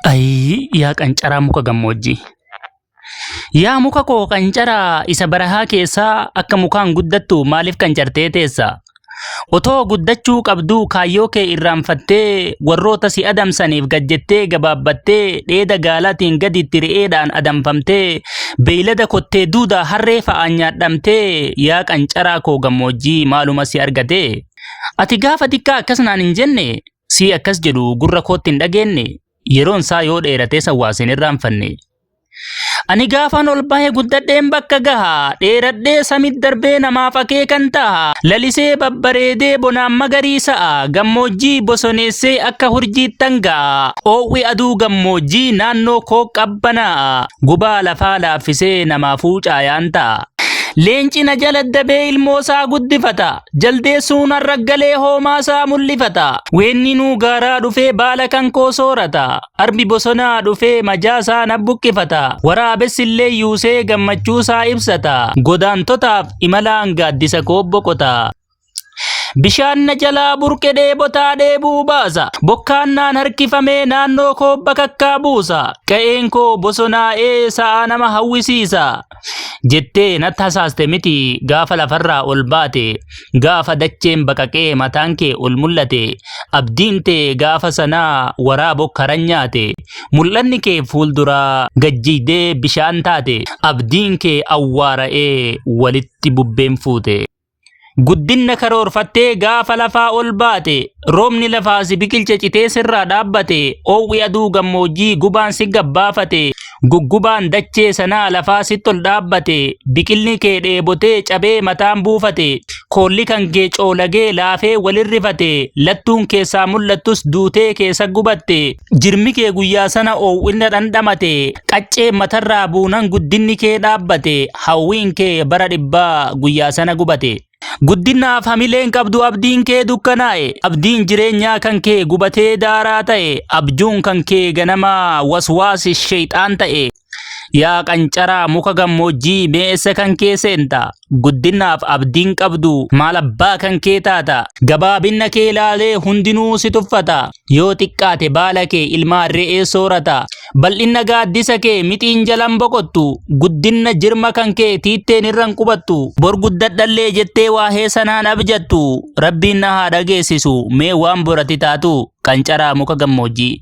Ayii yaa qancaraa muka gammoojjii. Yaa muka koo qancaraa isa barahaa keessaa akka mukaan guddattu maaliif qancartee teessa? Otoo guddachuu qabduu kaayyoo kee irraanfattee warroota si adamsaniif gad jettee gabaabbattee dheeda gaalaatiin gaditti re'eedhaan adamfamtee beeylada kottee duudaa harree fa'aan nyaadhamtee yaa qancaraa koo gammoojjii maaluma si argatee? Ati gaafa xiqqaa akkas naan hin jenne sii akkas jedhu gurra kootti hin dhageenne yeroon isaa yoo dheeratee sawwaaseen irraanfanne. Ani gaafan ol bahe guddadheen bakka gaha dheeradhee samit darbee namaaf akeekan taha lalisee babbareedee bonaan magariisa'a gammoojjii bosoneessee akka hurjiittan ga'a oo'wi aduu gammoojjii naannoo koo qabbanaa'a gubaa lafaa laaffisee namaafuu caayaan ta'a. Leenci na jala dabee ilmoo isaa guddifata. Jaldeessuun har'a galee hoomaasaa mul'ifata. Weenninuu gaaraa dhufee baala kan koo soorata. Arbi bosonaa dhufee majaasaa na buqqifata. Waraabessi illee yuusee gammachuusaa ibsata. Godaantotaaf imalaan gaaddisa koo boqota. Bishaan na jalaa burqe dheebotaa dheebuu baasa. Bokkaan naan harkifamee naannoo koo bakakkaa buusa. Qa'een koo bosonaa'ee sa'aa nama hawwisiisa. jettee natti hasaaste miti gaafa lafarraa ol baate gaafa dacheen baqaqee mataan kee ol mul'ate abdiin tee gaafa sanaa waraa bokkaran nyaate mul'anni kee fuulduraa gajjiidee bishaan taate abdiin kee awwaara'ee walitti bubbeen fuute. Guddinna karoorfattee gaafa lafaa ol baate, roobni lafaa si biqilche citee sirraa dhaabbate, oowwi aduu gammoojjii gubaan si gabbaafate, guggubaan dachee sanaa lafaa sitti ol dhaabbate, biqilni kee dheebotee cabee mataan buufate, koolli kan kee coolagee laafee walirrifate, lattuun keessaa mul'attus duutee keessa gubatte. Jirmi kee guyyaa sana oo'ina dhandhamate, qaccee matarraa buunan guddinni kee dhaabbate, hawwiin kee bara dhibbaa guyyaa sana gubate. Guddinaaf hamileen qabdu abdiin kee dukkanaa'e, abdiin jireenyaa kan kee gubatee daaraa ta'e, abjuun kan kee ganamaa waswaasi sheexaan ta'e. Yaa qancaraa muka gammoojjii mee eessa kan kee seenta? Guddinaaf abdiin qabdu maal abbaa kan kee taata? Gabaabinna kee ilaalee hundinuu si tuffata. Yoo xiqqaate baala kee ilmaa re'ee soorata. Bal'inna gaaddisa kee mixiin jalan boqottu. Guddinna jirma kan kee tiitteen irran qubattu. Bor guddadhallee jettee waahee sanaan abjattu. Rabbiin na haa dhageessisu mee waan borati taatu qancaraa muka gammoojjii.